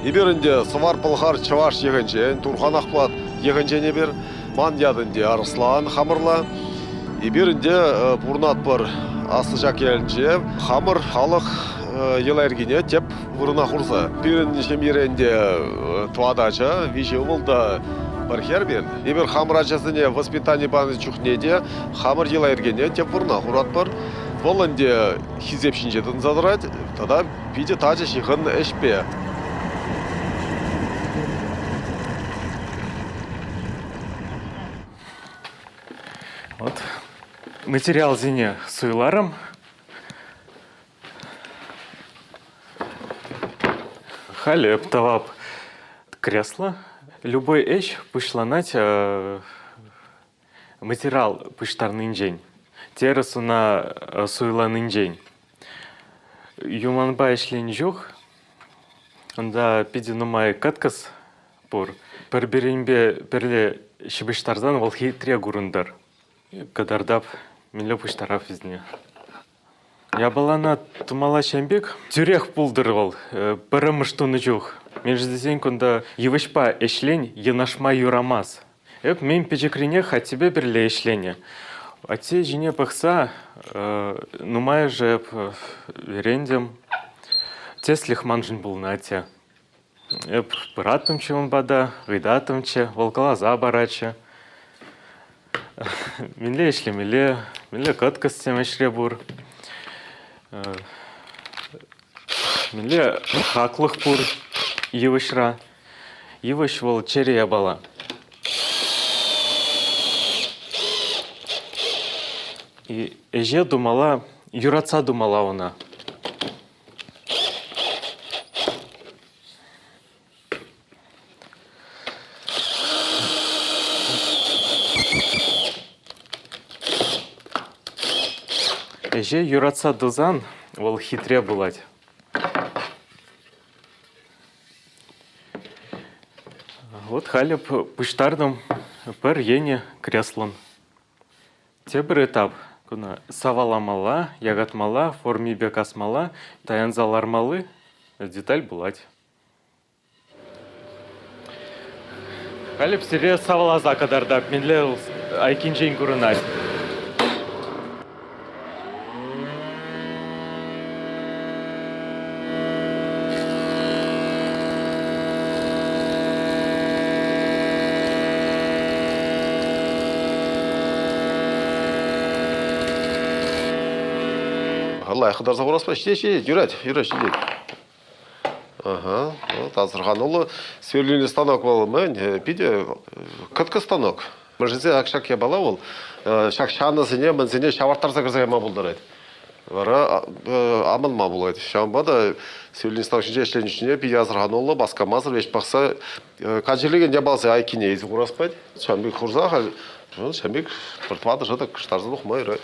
Эпир ӗнтӗ Сӑмар-Пӑлхар чӑваш йӑхӗнчен, Турхан Ахмат йӑхӗнчен эпир. Ман ят ӗнтӗ Арӑслан хамӑрла. Эпир ӗнтӗ пурӑнатпӑр Аслӑ Чаккелӗнче. Хамӑр халӑх йӑла-йӗркине тӗп вырӑна хурса. Пирӗн ҫемьере ӗнтӗ тӑватӑ ача, виҫӗ ывӑл та пӗр хӗр пирӗн. Эпир хамӑр ачасене воспитани панӑ чухне те хамӑр йӑла-йӗркене тӗп вырӑна хуратпӑр. Вӑл ӗнтӗ хисеп ҫинче тӑнса тӑрать тата питӗ тачӑ ҫыхӑннӑ ӗҫпе. Вот материалсене суйларӑм. Халеп тӑвап кресло. Любой ӗҫ пуҫланать материал пуҫтарнинчен, терӗс ӑна суйланинчен. Юманпа ӗҫленӗ чух унта питӗ нумай кӑткӑс пур. Пӗр-пӗринпе пӗрле ҫыпӑҫтарсан вӑл хитре курӑнтӑр. Кӑтартап мӗнле пуҫтарап вӗсене? Япалана тумалла ҫын пек тӳрех пултӑр вӑл пӗрремӗш тунӑ чух. Мӗншӗн тесен кунта йывӑҫпа ӗҫлен йӑнӑшма юрамасть. Эп мӗн пӗчӗкренех аттепе пӗрле ӗҫленӗ. Атте ҫине пӑхса нумайӑшӗ эп вӗрентӗм. Тӗслӗх маншӑн пулнӑ атте. Эп пыратӑмччӗ ун пата, ыйтатӑмччӗ, вӑл каласа паратчӗ. Мӗнле ӗҫлемелле, мӗнле кӑткӑссем ӗҫре пур, мӗнле хаклӑх пур йывӑҫра. Йывӑҫ вӑл чӗре япала. Ӗҫе тумалла, юратса тумалла ӑна. Ӗҫе юратса тусан вӑл хитре пулать. Вот халӗ пуҫтартӑм пӗр енӗ креслон. Тепӗр этап куна саваламалла, якатмалла, формипе касмалла, таянса лармалли деталь пулать. Халӗ сире саваласа кӑтартап, мӗнле айккинчен курӑнать. лайӑх хытарса хурас ҫитет ҫитет юрать юрать ҫитет Асӑрхануллӑ сверлильный станок вӑл мӗн, питӗ кӑткӑс станок. Мӑшӗсен ак ҫак япала вӑл ҫак ҫанӑсене мӗнсене ҫавӑрттарса кӗрсе кайма пултарать. Вара амӑнма пулать. Ҫавӑнпа та сверлильный станок ҫинче ӗҫленӗ чухне питӗ асӑрхануллӑ, васкамасӑр ӗҫ пӑхса Качелекен япалсем айккине илсе курас пать. Ҫан пек хурса халь ҫан пек пӗр тӑватӑ шӑтӑк кӑштарса тухма юрать.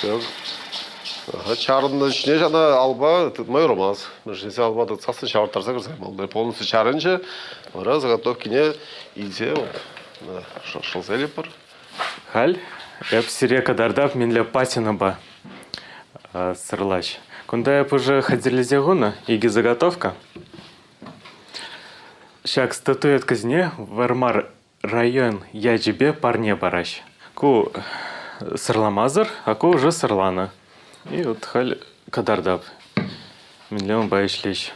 Так. Чарӑннӑ ҫине ҫана алба тытма юрамас. Мӑшӑрне салма тытсассӑн ҫавӑрттарса кӗрсе полностью чарӑнчӗ. Вара заготовкине илсе шӑлса илетпӗр. Халь эп сире кӑтартав мӗнле патинӑпа сӑрлаҫ. Кунта эп уже хатӗрлесе хунӑ икӗ заготовка. Ҫак статуэтка ҫине Вармар Район ячӗпе парне параҫ. Ку сӑрламасӑр, а ку уже сӑрланӑ. И вот халь кӑтартап. Мӗнле унпа ӗҫлӗҫ?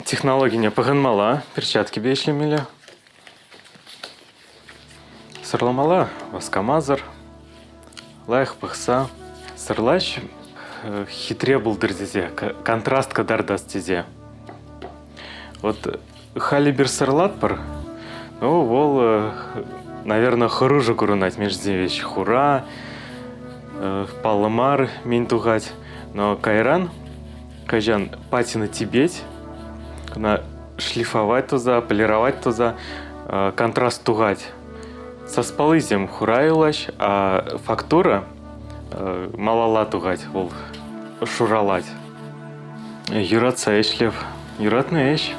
Технологине пӑхӑнмала, перчаткипе ӗҫлемелле. Сӑрламала, васкамасӑр. Лайӑх пӑхса сӑрлаҫ хитре пултӑр тесе, контраст кӑтартас тесе. Вот Халибер сӑрлатпӑр, ну вӑл, наверное, хӑрушӑ курӑнать. Мин жизни вещь хура, паллӑ мар мин тухать. Но кайран кайчан патина тибеть, кӑна шлифовать туза, полировать туза, контраст тухать. Саспаллисем хурайлаҫ, фактура малалла тухать, вӑл шуралать. Юратса ӗҫлев, юратнӑ ӗҫ.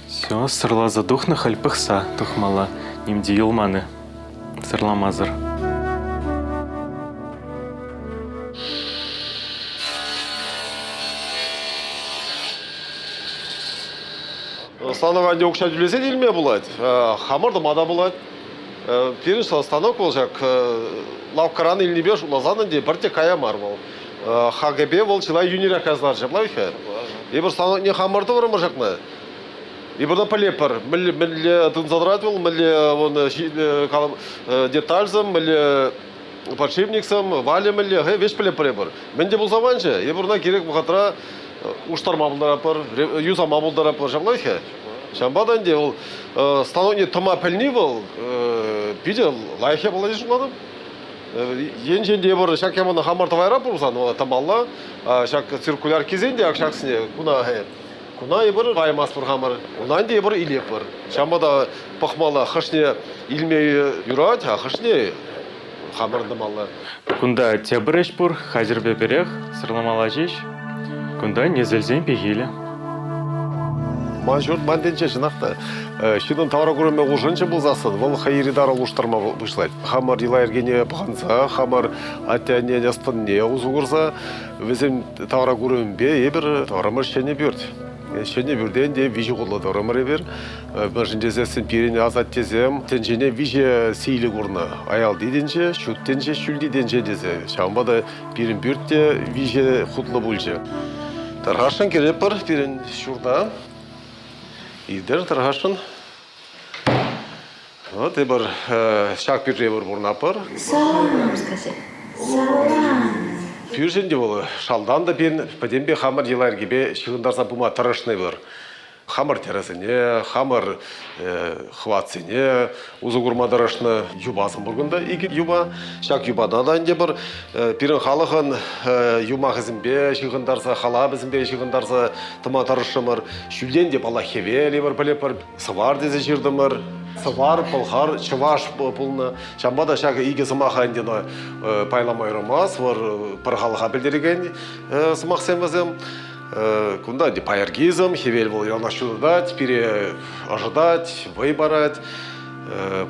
Все, сырласа тухнӑ халь пӑхса тухмалла, ним те юлманӑ, сырламасӑр. Станова укҫа тӳлесен илме пулать, хамӑр тума та пулать. Пирӗн станок вӑл ҫак лавккаран илнипе шутласан ӗнтӗ пӗрте кая мар вӑл. ХГП вӑл чылай йӳнерех каснарчӗ, правильно? Эпир станокне хамӑр тӑврӑмӑр ҫакна. Эпир та пӗлепӗр, мӗнле тытӑнса тӑрать вӑл, мӗнле вон детальсем, мӗнле подшипниксем, Валя мӗнле, веҫ пӗлетпӗр Мӗн те пулса манчӗ, эпир ӑна кирек вӑхӑтра уштарма пултаратпӑр, юсама пултаратпӑр ҫаплах-и? Ҫавӑнпа та ӗнтӗ вӑл становление тӑма пӗлни вӑл питӗ лайӑх япала тесе шутлатӑп. Енчен те эпир ҫак ямана хамӑр тӑвайра пулсан, тӑмалла, ҫак циркуляркисен те ҫаксене куна Куна эпир каймастпӑр хамӑр, унтан те эпир илетпӗр. Ҫавӑнпа та пӑхмалла, хӑшне илме юрать, а хӑшне хамӑрӑн тӑмалла. Кунта тепӗр ӗҫ пур, хатӗрпе пӗрех, сӑрламалла ҫеҫ. Кунта несӗлсен пехилӗ. Ман ҫурт ман тӗнче чӑнах та. Ҫынӑн тавра курӑмӗ улшӑнчӗ пулсассӑн, вӑл хӑй ырӑ улӑштарма пуҫлать. Хамӑр йӑла-йӗркене пӑхӑнса, хамӑр атте-аннен ӑс-тӑнне усӑ курса Вӗсен тавра курӑмӗпе эпир тарӑмӑр ҫӗнӗ пӳрт. Ҫӗнӗ пӳртен те виҫӗ хутлӑ тарӑмӑр эпир. Мӗншӗн тесессӗн пирӗн асаттесем тӗнчене виҫӗ сийлӗ курнӑ. Аялти тӗнче, ҫут тӗнче, ҫӳлти тӗнче тесе. Ҫавӑнпа та пирӗн пӳрт виҫӗ хутлӑ пулчӗ. Тархасшӑн кӗретпӗр пирӗн ҫурта. Илтер Тархасшӑн. Вот и пар ҫак пӳрте пыр пурӑнатпӑр. Савӑнам, скажи. Савӑнам. Пӳршӗн те вӑл шалтан та пин пӗтӗмпе хамӑр йӑла-йӗркепе ҫыхӑнтарса пыма тӑрӑшнӑ пыр. Хамӑр тӗрӗсене, хамӑр хӑватсене усӑ курма тӑрӑшнӑ юпасем пур кунта. Икӗ юпа, ҫак юпана та ӗнтӗ пыр Пирӗн халӑхӑн юмахӗсемпе ҫыхӑнтарса, халапӗсемпе ҫыхӑнтарса тӑма тӑрӑшрӑмӑр. Ҫӳлтен те паллах хӗвел евӗр пӗлӗпӗр, сӑвар тесе ҫыртӑмӑр. Сӑвар, пӑлхар, чӑваш пулнӑ. Ҫавӑнпа та ҫакӑ икӗ сӑмаха ӗнтӗ пайлама вӑл пӗр халӑха пӗлтерекен сӑмахсем вӗсем. Кунта ӗнтӗ пайӑркизм, хӗвел вӑл яланах ҫутатать, пире ӑшӑтать, вӑй парать.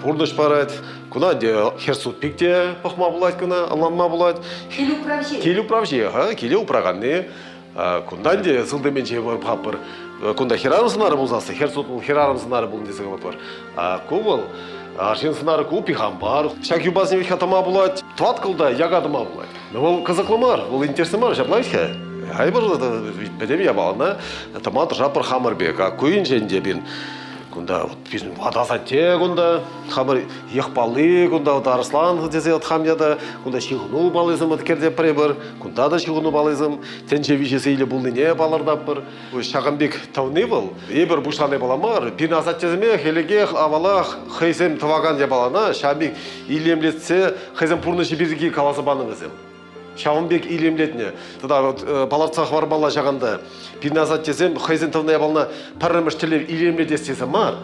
Пурнӑҫ парать. Куна хӗр суд пик те пӑхма пулать куна, ӑнланма пулать. Кил управҫи. Кил управҫи, ха, киле управганни. Кунтан те сылтӑменче хаппӑр. Кунта хӗрарӑм сӑнарӗ пулсассӑн, хӗр суд хӗрарӑм сӑнарӗ пулнӑ тесе калатпӑр. Ку вӑл арҫын сӑнарӗ ку пихан бар. Ҫак юпасем ҫеҫ тӑма пулать, тӑваткӑлта яка тӑма пулать. вӑл кӑсӑклӑ мар, вӑл интереслӗ мар, ҫапла-и-ха? Айбӑр, пӗтӗм япалана тӑма тӑша пӗр хамӑр пек. Ку енчен те пин Кунта вот ват асатте кунта, хамӑр йӑх палли кунта вот арслан тесе вот хам ята, кунта ҫыхӑну паллисем вот кӗрте пӗрепӗр, кунта та ҫыхӑну паллисем тӗнче виҫи сейлӗ пулнине палӑртатпӑр. Ҫакӑн пек тӑвни вӑл, эпир пуҫлани пала мар, пин асаттесеме хӗлӗкех авалах хӑйсем тӑвакан япалана ҫамик илемлетсе хӑйсен пурнӑҫӗ пирки каласа панӑ вӗсем. ҫавӑн пек илемлетнӗ тата вот э, палӑртса хӑвармалла ҫаканта пирӗн асаттесем хӑйсен тӑвна япалана пӗрремӗш тӗллев илемлетес тесе мар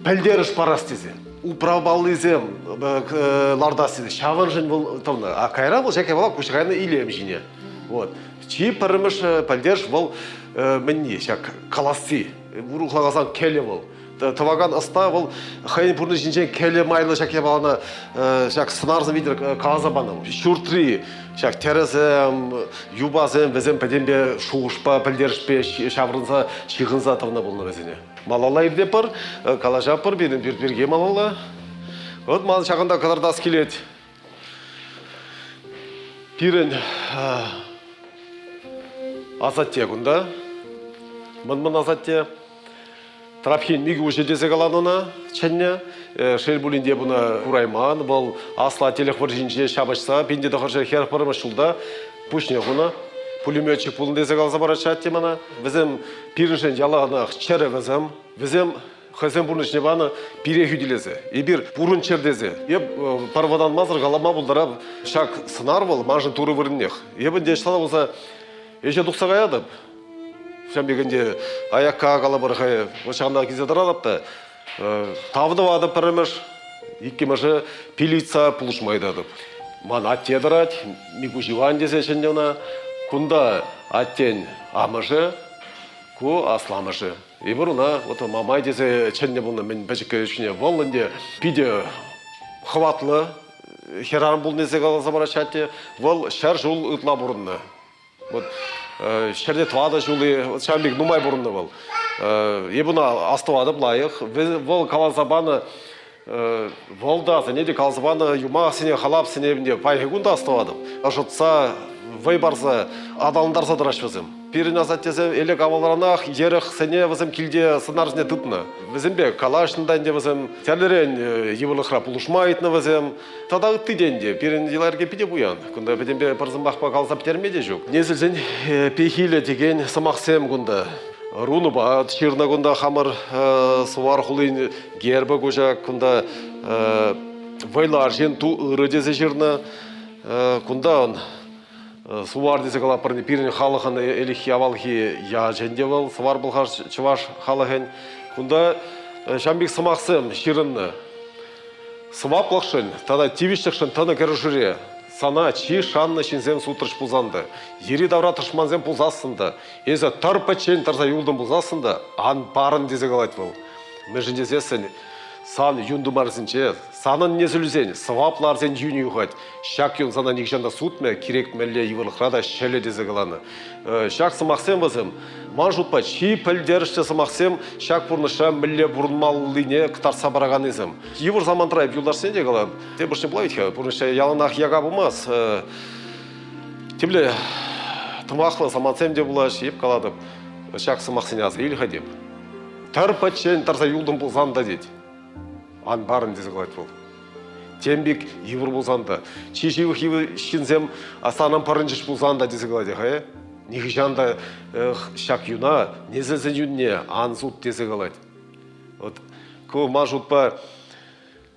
пӗлтерӗш парас тесе управпаллисем э, лартас тесе ҫавӑншӑн вӑл тӑвна а кайра вӑл ҫак япала куҫ кайнӑ илем ҫине вот чи пӗрремӗш э, пӗлтерӗш вӑл мӗнни ҫак каласси урӑхлатсан кӗлӗ вӑл тӑвакан ӑста вӑл хӑйӗн пурнӑҫӗнчен кӗлӗ майлӑ ҫак япалана ҫак сӑнарсем витӗр каласа панӑ ҫуртри ҫак тӗрӗсем юпасем вӗсем пӗтӗмпе шухӑшпа пӗлтерӗшпе ҫаврӑнса ҫыхӑнса тӑнӑ пулнӑ вӗсене малалла иртетпӗр калаҫатпӑр пирӗн пирки малалла. Вӑт ман ҫакӑнта кӑтартас килет. Пирӗн асатте кунта, мӑн-мӑн асатте. Трапхин микӗ уҫӑ тесе каланӑ ӑна чӗннӗ. Шел пулин те буна курайман, вӑл асла телек вӑрҫинче ҫапӑҫса пин те тӑхӑрҫӗ хӗр пӗрмӗш ҫулта пуҫне хунӑ. Пулеметчик пулнӑ тесе каласа параҫҫӗ атте мана. Вӗсем пирӗншӗн яланах чӗрӗ вӗсем. Вӗсем хӑйсен пурнӑҫне панӑ пире хӳтӗлесе, эпир пурӑнччӑр тесе. Эп парвӑрланмасӑр калама пултарап, ҫак сӑнар вӑл маншӑн турӑ вырӑннех. Эп ӗнтӗ ӑҫтала пулса ӗҫе тухса каятӑп. Ҫавӑн пек ӗнтӗ аякка калӑпӑр хай ҫавна килсе тӑратӑп та тав тӑватӑп пӗрремӗш, иккӗмӗшӗ пилица пулӑшма ыйтатӑп. Ман атте тӑрать, Микуҫ Иван тесе чӗннӗ ӑна. Кунта аттен амӑшӗ, ку асламӑшӗ. Ибруна вот мамай тесе чӗннӗ пулнӑ мӗн пӗчӗккӗ ҫине вӑл ӗнтӗ питӗ хӑватлӑ хӗрарӑм пулни тесе каласа параҫҫӗ атте. Вӑл ҫӗр ҫул ытла пурӑннӑ. Вот ҫӗрте тӑватӑ ҫули ҫавӑн пек нумай пурӑннӑ вӑл. Эпуна астӑватӑп лайӑх. Вӑл каласа панӑ Вӑлтасене те каласа панӑ юмахсене, халапсене паянхи кун та астӑватӑп. Ӑшӑтса, вӑй парса, аталантарса тӑраҫҫӗ вӗсем. Пирӗн асаттесем элек-авалранах йӗрӗхсене вӗсем килте сӑнарсене тытнӑ. Вӗсемпе калаҫнӑ та ӗнтӗ вӗсем, тӗрлӗрен э, йывӑрлӑхра пулӑшма ыйтнӑ вӗсем. Тата ытти те ӗнтӗ, пирӗн йӑла-йӗрке питӗ пуян. Кунта пӗтӗмпе пӗр сӑмахпа каласа пӗтерме те ҫук. Несӗлсен э, пехилӗ текен сӑмахсем кунта. Рунӑпа ҫырнӑ кунта хамӑр э, Сувар хулин Герба куҫа кунта вӑйлӑ арҫын ту ырӑ тесе ҫырнӑ. Кунта он Сувар тесе калаппӑр, пирӗн халӑхӑн ӗлӗкхи авалхи ячӗн те вӑл, Сувар Пӑлхар чӑваш халӑхӗн. Кунта ҫам пек сӑмахсем ҫырӑннӑ. Сӑваплӑхшӑн тата тивӗҫлӗхшӗн тӑнӑ кӗрешӳре сана чи шаннӑ ҫынсем сутрӗҫ пулсан та, йӗри-тавра тӑшмансем пулсассӑн та, эсӗ тӑр пӗччен тӑрса юлтӑн пулсассӑн та, ан парӑн, тесе калать вӑл. Мӗншӗн тесессӗн сан юн тымарсенче санӑн несӗлӳсен, сӑвапларсен юнӗ юхать. Ҫак юн сана нихҫан та сутмӗ, кирек мӗнле йывӑрлӑхра та ҫӗлӗ тесе каланӑ. Ҫак сӑмахсем вӗсем, ман шутпа, чи пӗлтерӗшлӗ сӑмахсем ҫак пурнӑҫра мӗнле пурӑнмаллине кӑтартса параканнисем. Йывӑр самантра эп юлташсене те калам, тем пуҫне пулать-ха, пурнӑҫра яланах яка пулмасть. Темле тӑмахлӑ самантсем те пулаҫҫӗ, эп калатӑп, ҫак сӑмахсене аса илӗх тем. Тар пӗччен тӑрса юлтӑм пулсан та тет. Ан парӑн тесе калать вӑл. Тем пек йывӑр пулсан та, чи ҫывӑх ҫынсем санӑн пӑрӑнчӗҫ пулсан та тесе калать ха э? Нихӑҫан та ҫак юна несӗлсен юнне ан суд тесе калать. Вот ку ман шутпа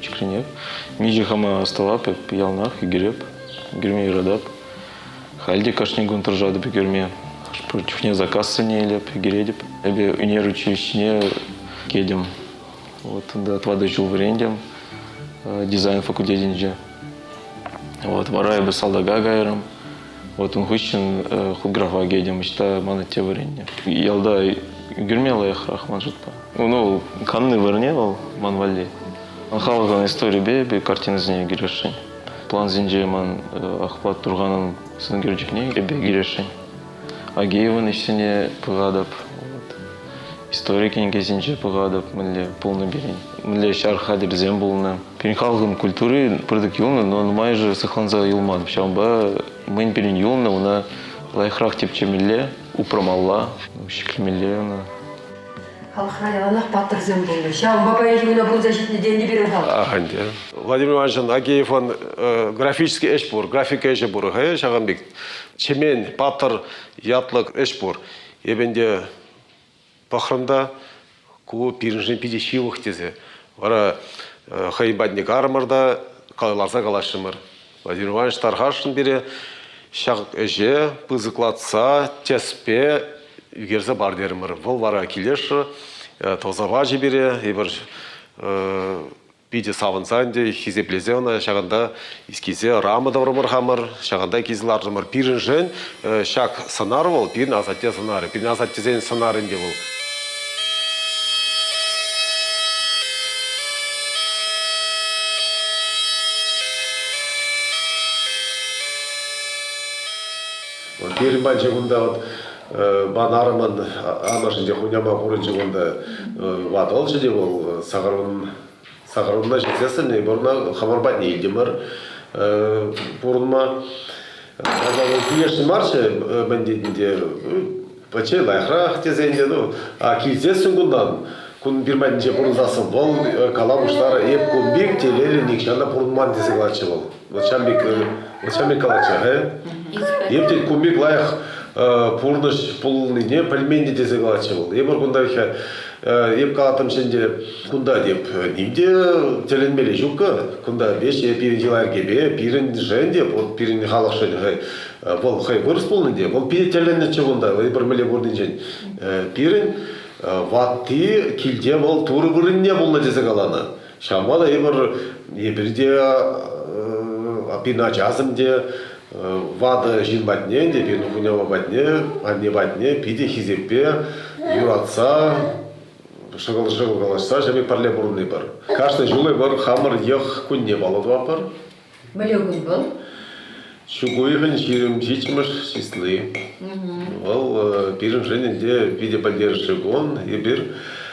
чиксенех. Миҫе хама астӑвап эп, яланах ӳкереп, ӳкерме юратап. Халь те кашни кун тӑрӑшатӑп ӳкерме. Хӑш-пӗр чухне заказсене илеп, ӳкеретӗп. Эпӗ ӳнер училищине кӗтӗм. Вот ында отвады ҫул вӗрентӗм дизайн факультетӗнче. Вот вара эпӗ салтака кайрӑм. Вӑтун хыҫҫӑн худграфа кӗтӗм, ӑҫта ман атте вӗреннӗ. Ялта ӳкерме лайӑхрах ман шутпа. Ну, канни вырӑнне вӑл, ман валли. Халӑхӑн историйӗпе эпир картинӑсене кӗрешсен. Плансенче ман Ахпат Турханӑн сӑнӳкерчӗкне эпе кӗрешсен. Агеевӑн ӗҫсене пӑхатӑп. Истори кӗнекесенче пӑхатӑп мӗнле пулнӑ пирӗн, мӗнле ҫар хатӗрӗсем пулнӑ. Пирӗн халӑхӑн культури пӑртак юлнӑ, но нумайӑшӗ сыхланса юлман. Ҫавӑнпа мӗн пирӗн юлнӑ ӑна лайӑхрах тӗпчемелле, упрамалла, ҫӗклемелле ӑна. Халӑхра яланах паттӑрсем пулнӑ. Ҫавӑнпа паянхи куна пурӑнса ҫитнӗ тенӗ пирӗн халӑх. Атя. Владимир Ивановичӑн Агеевӑн графический ӗҫ пур, графика ӗҫӗ пур хӑй ҫавӑн пек. Чемен, паттӑр ятлӑ ӗҫ пур. Эпӗ ӗнтӗ пӑхрӑм та, ку пирӗншӗн питӗ ҫывӑх тесе. Вара хӑйӗн патне карӑмӑр та ларса калаҫрӑмӑр. Владимир Иванович тархасшӑн пире ҫак ӗҫе пысӑклатса тӗспе ӳкерсе пар терӗмӗр. Вӑл вара килешрӗ, тӑсӑ пачӗ пире. Эпир Питӗ савӑнса ӗнтӗ хисеплесе ӑна ҫакӑнта искисе рама тӑврӑмӑр хамӑр, ҫакӑнта килсе лартӑмӑр. Пирӗншӗн ҫак сӑнар вӑл пирӗн асатте сӑнарӗ, пирӗн асаттесен сӑнарӗ ӗнтӗ вӑл. Пирӗн пачче кунта вот Ман арӑмӑн амӑшӗн те хуняма пурӑнчӗ кунта. Ватӑлчӗ те вӑл сакӑрунна ҫитсе сӗннӗ. Пурӑна хӑмӑр патне илтӗмӗр пурӑнма. Кайса вӑл килӗшнӗ марччӗ мӗн тетӗн те пӗчче лайӑхрах тесе ӗнтӗ. Ну, а килсессӗн кунтан кун пир патӗнче пурӑнсассӑн вӑл кала пуҫларӗ, эп кун пек телейлӗ нихҫан та пурӑнман тесе калатчӗ вӑл. начальникӗн, начальник калатчӗ-ха. Эпир ку пек лайӑх пурнӑҫ пулнине пӗлменни тесе калатчӗ вӑл. Эпир кунта хӗ, эп калатӑм ӗнтӗ, кунта теп, ним те тӗлӗнмелли ҫук-ка. Кунта веҫ е пирӗн йӑла-йӗркепе, пирӗншӗн те, вот пирӗн халӑхшӑн хӑй, вӑл хӑй вырӑс пулнӑ те, вӑл питӗ тӗлӗннӗччӗ кунта, эпир мӗнле пурнинчен. Пирӗн ватти килте вӑл турӑ вырӑнне пулнӑ тесе каланӑ. Ҫавӑнпа та эпир эпир те пин ачасем те ватӑ ҫын патне те пин хунямӑ патне анне патне питӗ хисеппе юратса шӑкӑл-шӑкӑл калаҫса ҫами пӗрле пурӑнӑпӑр. Кашни ҫул эпир хамӑр йӑх кунне паллӑ тӑватпӑр. Мӗнле кун вӑл? Ҫук уйӑхӗн ҫирӗм ҫиччӗмӗш числи. Вӑл э, пирӗншӗн ӗнтӗ питӗ пӗлтерӗшлӗ кун. Эпир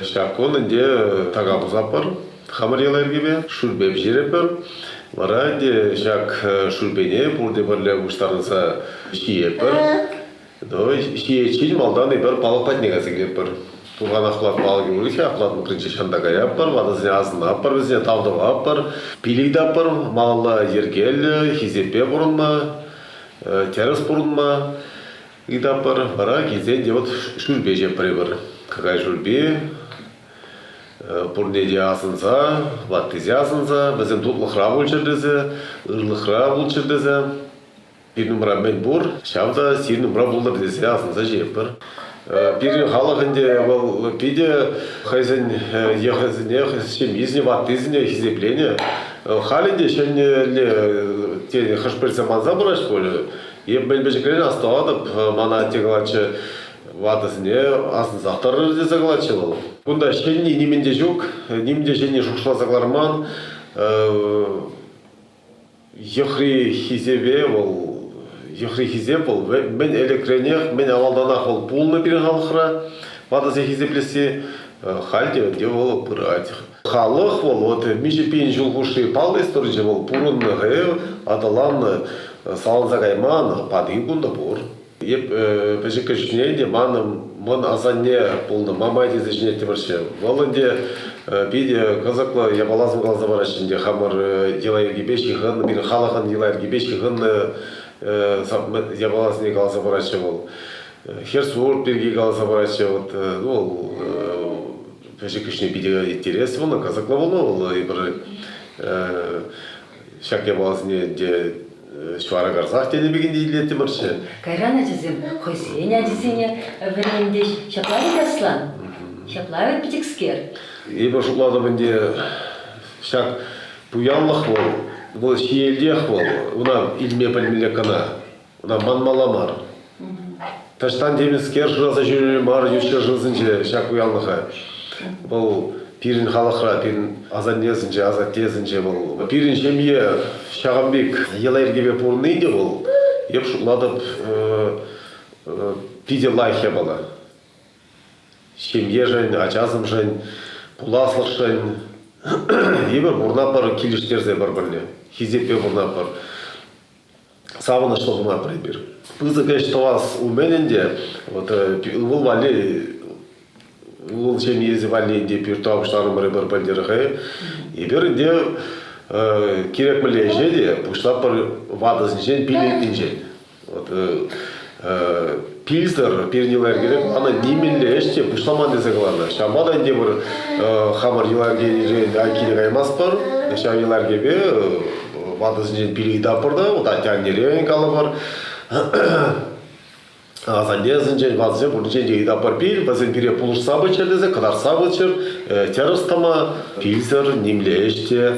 ҫак кун ӗнтӗ така пусатпӑр хамӑр йӑла-йӗркепе, шӳрпе пӗҫерӗпӗр. Вара ӗнтӗ ҫак э, шӳрпене пурте пӗрле пуҫтарӑнса ҫиетпӗр. ҫийӗччен малтан эпир палӑк патне кайса килетпӗр. Туханахла палӑк юрать апла тутинче ҫанта каятпӑр, ватӑсене асӑнатпӑр, вӗсене тав тӑватпӑр. Пилӗк таппӑр малалла йӗркеллӗ хисеппе пурӑнма, тӗрӗс пурӑнма ыйтатпӑр. Вара килсен те вот шӳрпе ҫапрӑпӑр. Какай шӳрпи пурне те асӑнса, ваттисе асӑнса, вӗсем тутлӑхра пулччӑр тесе, ырлӑхра пулччӑр тесе Пирӗн умра мӗн пур, ҫав та сирӗн умра пултӑр тесе асӑнса ҫиетпӗр. Пирӗн халӑх ӗнтӗ вӑл питӗ хӑйсен йӑхӗсене, ҫемйисене, ваттисене хисепленӗ. Халӗ те ҫӗнӗлле хӑш-пӗр саманса пыраҫ пуль. Эп мӗн пӗчӗкрен астӑватӑп, мана атте калатчӗ, ватӑсене асӑнсах тӑрӑр тесе калатчӗ вӑл. Кунта ҫӗнни нимӗн те ҫук, нимӗн те ҫӗнни шухӑшласа кӑларман. Йӑхри хисепе вӑл йӑхри хисеп вӑл мӗн ӗлӗкренех, мӗн авалтанах вӑл пулнӑ пирӗн халӑхра. Ватӑсем хисеплесси халь те ӗнтӗ вӑл пырать. Халӑх вӑл вот миҫе пин ҫул хушши паллӑ историчӗ вӑл пурӑннӑ, аталаннӑ, саланса кайман патин кунта пур. Эп пӗчӗккӗ чухне те манӑн мӑн асанне пулнӑ Мамай тесе ҫӗнеттӗмӗрччӗ. Вӑл ӗнтӗ питӗ кӑсӑклӑ япаласем каласа параҫҫӗ ӗнтӗ хамӑр йӑла-йӗркепе ҫыхӑннӑ, пирӗн халӑхӑн йӑла-йӗркепе ҫыхӑннӑ япаласене каласа параҫҫӗ вӑл. Херсурт пирки каласа параҫҫӗ. Вот, ну, пӗчӗккӗшне питӗ интереслӗ вӑл, кӑсӑклӑ пулнӑ вӑл эпир. Ҫак япаласене ӗнтӗ ҫвара карсах тенӗ пекене илеттӗмӗрччӗ. Кайран ачасем хӑйсен ачисене вӗрентӗҫ. Ҫапла вӗт, Аслан? Ҫапла вӗт, питӗкскер? Эпӗ шутлатӑп ӗнтӗ, ҫак пуянлӑх вӑл, вӑл ҫиелтех вӑл, ӑна илме пӗлмелле кӑна. Ӑна манмалла мар. Таҫтан темӗнскер шыраса ҫӳреме мар ют ҫӗршывсенче ҫак уявлӑха. Вӑл пирӗн халӑхра, пирӗн асаннесенче, асаттесенче вӑл, пирӗн ҫемье ҫавӑн пек йӑла-йӗркепе пурӑнни те вӑл, эп шутлатӑп, питӗ лайӑх япала. Ҫемьешӗн, ачасемшӗн, пуласлӑхшӑн эпир пурӑнатпӑр, килӗштерсе пӗр-пӗрле, хисеппе пурӑнатпӑр. савӑнӑҫлӑ хунатӑр эпир. Пысӑк ӗҫ тӑвас умӗн ӗнтӗ вот э, ывӑл валли ывӑл ҫемьесӗ валли ӗнтӗ пиртуа пуҫларӑмӑр эпир пӗлтӗрхи. Эпир ӗнтӗ э, кирек мӗнле ӗҫе те пуҫлапӑр ватӑсенчен, пиллӗкнинчен. Вот, э, Пилсӗр пирӗн йӑла-йӗркере ӑна нимӗнле ӗҫ те пуҫламан тесе каланӑ. Ҫавӑнпа та ӗнтӗ пыр хамӑр йӑла-йӗркерен айккине каймастпӑр. Ҫав йӑла-йӗркепе ватӑсенчен пир ыйтатпӑр та, вот атте-аннерен калӑпӑр. Асаннесенчен, ватӑсен пурнинчен те ыйтатпӑр пил, вӗсем пире пулӑшса пыччӑр тесе, кӑтартса пыччӑр, тӗрӗс тӑма, пилсӗр нимле ӗҫ те